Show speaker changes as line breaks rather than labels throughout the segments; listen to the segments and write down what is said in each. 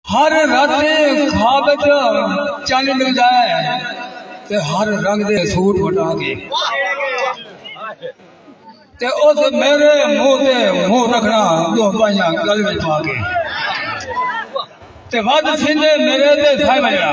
ہر رت دے خواب وچ چن ملدا ہے تے ہر رنگ دے سوٹ وٹا کے تے اس میرے منہ تے منہ رکھنا دو بائیاں گل وچ پا کے تے ود سینے میرے تے سائے وجڑا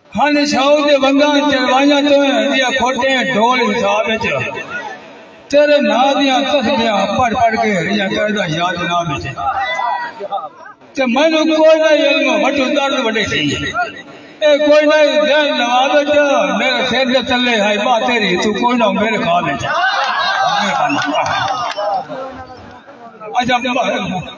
ہن شاہو دے ونگاں چڑوائیاں توں دیاں کھوٹیں ڈھول حساب وچ تیرے نا دیاں تسبیاں پڑھ پڑھ کے ہریاں کردا یاد نا وچ تے مینوں کوئی نہ علم وٹو درد وڈے سی اے کوئی نہ ذہن نواز وچ میرے سر دے تلے ہائی با تیری تو کوئی نہ میرے خواب وچ اجا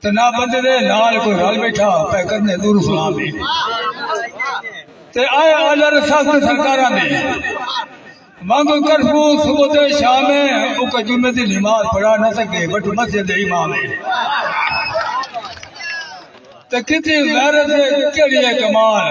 تے نہ بندے دے نال کوئی رل بیٹھا پے کرنے دور سلام دی تے آئے آلر سخت سرکاراں دی مانگ کرفو صبح تے شام ہے او کہ جمعے دی نماز پڑھا نہ سکے بٹ مسجد دے امام ہے تے کتنی غیرت ہے کیڑی ہے کمال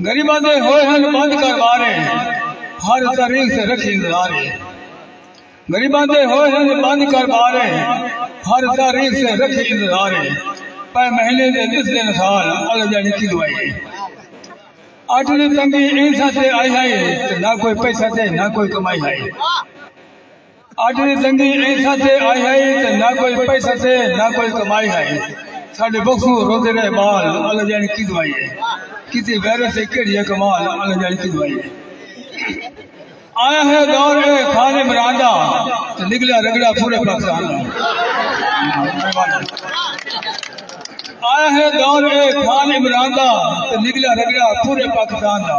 غریباں دے ہوئے ہن بند کر بارے ہر تاریخ سے رکھی انتظارے غریباں دے ہوئے ہن بند کر بارے ہر تاریخ سے رکھی انتظارے پے مہینے دے دس دن سال اللہ جانی کی دعائے اٹھ دی تنگی انسا سے آئی ہے نہ کوئی پیسہ سے نہ کوئی کمائی ہے اج دی تنگی ایسا تے آئی ہائی تے نہ کوئی پیسہ تے نہ کوئی کمائی ہائی ساڈے بخو روتے رہے بال اللہ جانی کی دوائی ہے کسی ویرس سے کیڑی ہے کمال اللہ جانی کی دوائی ہے آیا ہے دور اے خان عمران دا تے نکلا رگڑا پورے پاکستان دا آیا ہے دور اے خان عمران دا تے نکلا رگڑا پورے پاکستان دا